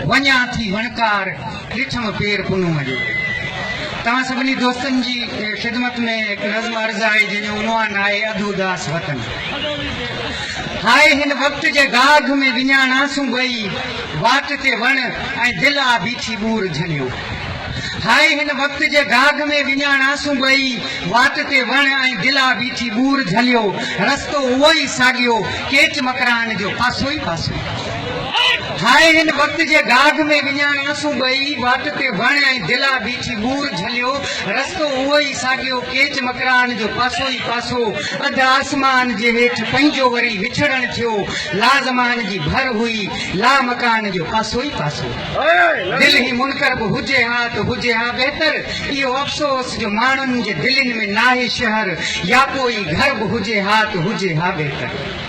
وڃان ٿي وڻڪار ڏٺم پير پنهونء جو. توهان سڀني دوستن جي خدمت ۾ هڪ نظم عرض آهي جنهن جو عنوان آهي اڌ اداس وطن. هاء هن وقت جي گاگهه ۾ وڃاڻاسون ٻئي واٽ تي وڻ ۽ دل آ بيٺي ٻور جهليو. هاء هن وقت جي گاگهه ۾ وڃاڻاسون ٻئي واٽ تي وڻ ۽ دل آ بيٺي ٻور جهليو. رستو اهو ئي ساڳيو ڪيچ مڪران جو پاسو ئي پاسو. هاء هن وقت جي گاگ ۾ وڃان اسون ٻئي، واٽ تي وڻ ۽ دلا بيٺي ٻور جهليو، رستو اهو ئي ساڳيو ڪيچ مڪراڻ جو پاسو ئي پاسو، اڌ آسمان جي هيٺ پنهنجو وري وڇڙڻ ٿيو، لا زمان جي ڀر هئي، لا مڪان جو پاسو ئي پاسو. دل هي منڪر به هجي ها ته هجي ها بهتر، اهو افسوس جو ماڻهن جي دلين ۾ ناهي شهر، يا پوء ئي گهر به هجي ها ته هجي ها بهتر.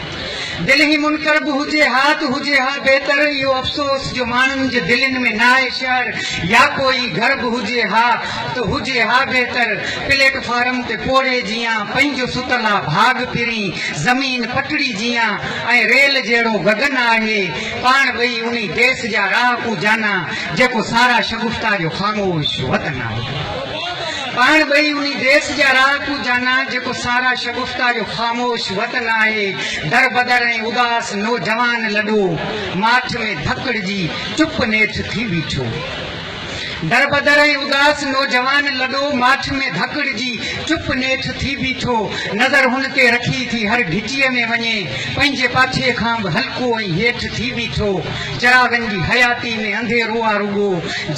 دل هي منڪر به هجي ها ته هجي ها بهتر اهو افسوس جو ماڻهن جي دلين ۾ ناهي شهر يا ڪو ئي گهر به هجي ها ته هجي ها بهتر پليٽ فارم تي پوڙهي جيان پنهنجو ستل آ ڀاڳ پرين زمين پٽڙي جيان ۽ ريل جهڙو گگن آهي پاڻ ٻئي انهي ديس جا راهڪو جانا جيڪو سارا شگفتا جو خاموش وطن آهي. پاڻ ٻئي انهي ديس جا رهاڪو جانا، جيڪو سارا شگفتا جو خاموش وطن آهي، دربدر ۽ اداس نوجوان لڏو ماٺ ۾ ڌڪڙجي چپ نيٺ ٿي بيٺو. دربدر ۽ اداس نوجوان لڏو ماٺ ۾ ڌڪڙجي چپ نيٺ ٿي بيٺو، نظر هن تي رکي ٿي هر گهٽيء ۾ وڃي پنهنجي پاڇي کان به هلڪو ۽ هيٺ ٿي بيٺو، چراغن جي حياتي ۾ انڌيرو آ رڳو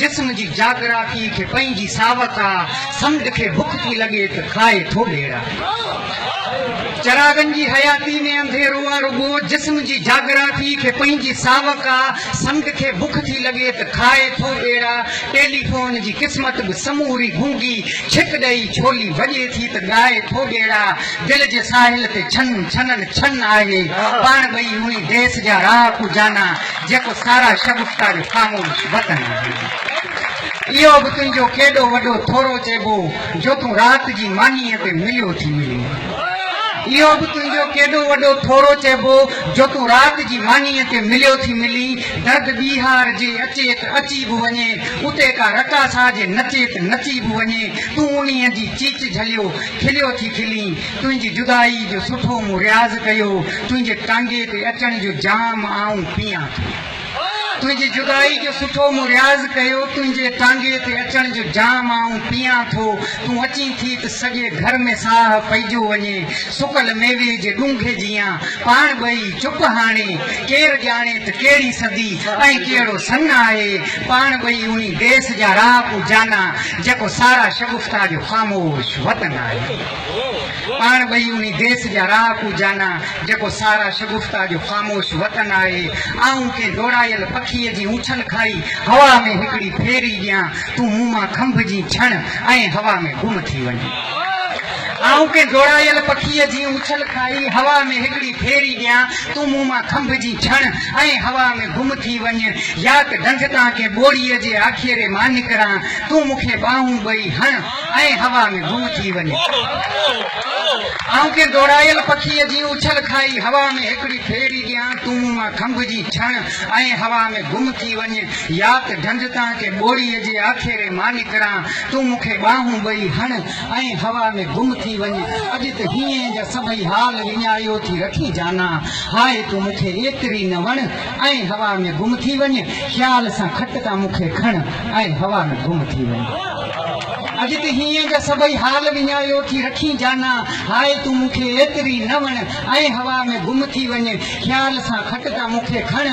جسم جي جاگرافي کي پنهنجي ساوڪ آ سمنڊ کي بک ٿي لڳي ته کائي ٿو ٻيڙا چراغن جي حياتي ۾ انڌيرو آ رڳو جسم جي جاگرافي کي پنهنجي ساوڪ آ سمنڊ کي بک ٿي لڳي ته کائي ٿو ٻيڙا ٽيليفون جي قسمت به سموري گونگي ڇڪ ڏئي ڇولي وڄي ٿي ته ڳائي ٿو ٻيڙا دل جي ساحل تي ڇن ڇنن ڇن آهي پاڻ ٻئي انهي ديس جا راهه ڪو جانا جيڪو سارا شگفتا جو خاموش وطن آهي اهو به تنهنجو ڪيڏو وڏو ٿورو چئبو جو تون رات جي مانيء تي مليو ٿي ملين اهو به تنهنجو ڪيڏو وڏو ٿورو چئبو جو تون رات جي مانيء تي مليو ٿي ملين درد ٻيهار جي اچيت اچي به وڃي اتي ڪا رقاصا جي نچيت نچي به وڃي تون انهي جي چيچ جهليو کليو ٿي کلين، تنهنجي جدائي جو سٺو مون رياض ڪيو، تنهنجي ٽانگي تي اچڻ جو جام آئون پيئان ٿو. تنهنجي جدائي جو سٺو مون رياض ڪيو، تنهنجي ٽانگي تي اچڻ جو جام آئون پيئان ٿو، تون اچين ٿي ته سڄي گهر ۾ ساهه پئجو وڃي، سڪل ميوي جي ڏونگهي جيان، پاڻ ٻئي چپ هاڻي، ڪير ڄاڻي ته ڪهڙي صدي ۽ ڪهڙو سن آهي، پاڻ ٻئي انهي ديس جا رهاڪو جانا، جيڪو سارا شگفتا جو خاموش وطن آهي. پاڻ ٻئي انهي ديس جا رهاڪو جانا، جيڪو سارا شگفتا جو خاموش وطن آهي. آئون ڪنهن ڊوڙايل پکيء جي اڇن کائي، هوا ۾ هڪڙي ڦيري ڏيان، تون مون مان کنڀ جيئن ڇڻ ۽ هوا ۾ گم ٿي وڃ. آئون ڪنهن ڊوڙايل پکيء جي اڇن کائي، هوا ۾ هڪڙي ڦيري ڏيان، تون مون مان کنڀ جيئن ڇڻ ۽ هوا ۾ گم ٿي وڃ، ياڪ ڍنڍ تان ڪنهن ٻوڙيء جي آکيري مان نڪران، تون مون کي ٻانهون ٻئي هڻ ۽ هوا ۾ گم ٿي وڃ. آئون ڪنهن ڊوڙايل پکيء جي اڇل کائي هوا ۾ هڪڙي ڦيري ڏيان، تون مون مان کنڀجي ڇڻ ۽ هوا ۾ گم ٿي وڃ، ياڪ ڍنڍ تان ڪنهن ٻوڙيء جي آکيري مان نڪران، تون مون کي ٻانهون ٻئي هڻ ۽ هوا ۾ گم ٿي وڃ. اڄ ته هينئين جا سڀئي حال وڃايو ٿي رکين جانا. هاء تون مون کي ايتري نه وڻ ۽ هوا ۾ گم ٿي وڃ. خيال سان کٽ تان مون کي کڻ ۽ هوا ۾ گم ٿي وڃ. اڄ ته هينئين جا سڀئي حال وڃايو ٿي رکين جانا. هاء تون مون کي ايتري نه وڻ ۽ هوا ۾ گم ٿي وڃ. خيال سان کٽ تان مون کي کڻ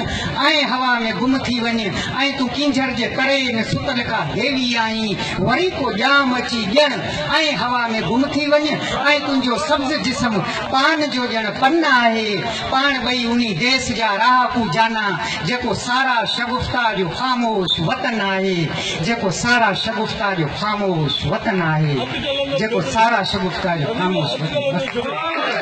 ۽ هوا ۾ گم ٿي وڃ. ۽ تون ڪينجهر جي تري ۾ ستل ڪا ديوي آهين. وري ڪو ڄام اچي ڄڻ ائين هوا ۾ گم ٿي وڃ ۽ تنهنجو سبز جسم پان جو ڄڻ پن آهي. پاڻ ٻئي انهي ديس جا رهاڪو جانا، جيڪو سارا شگفتا جو خاموش وطن آهي، جيڪو سارا شگفتا جو خاموش وطن آهي، جيڪو سارا شگفتا جو خاموش وطن.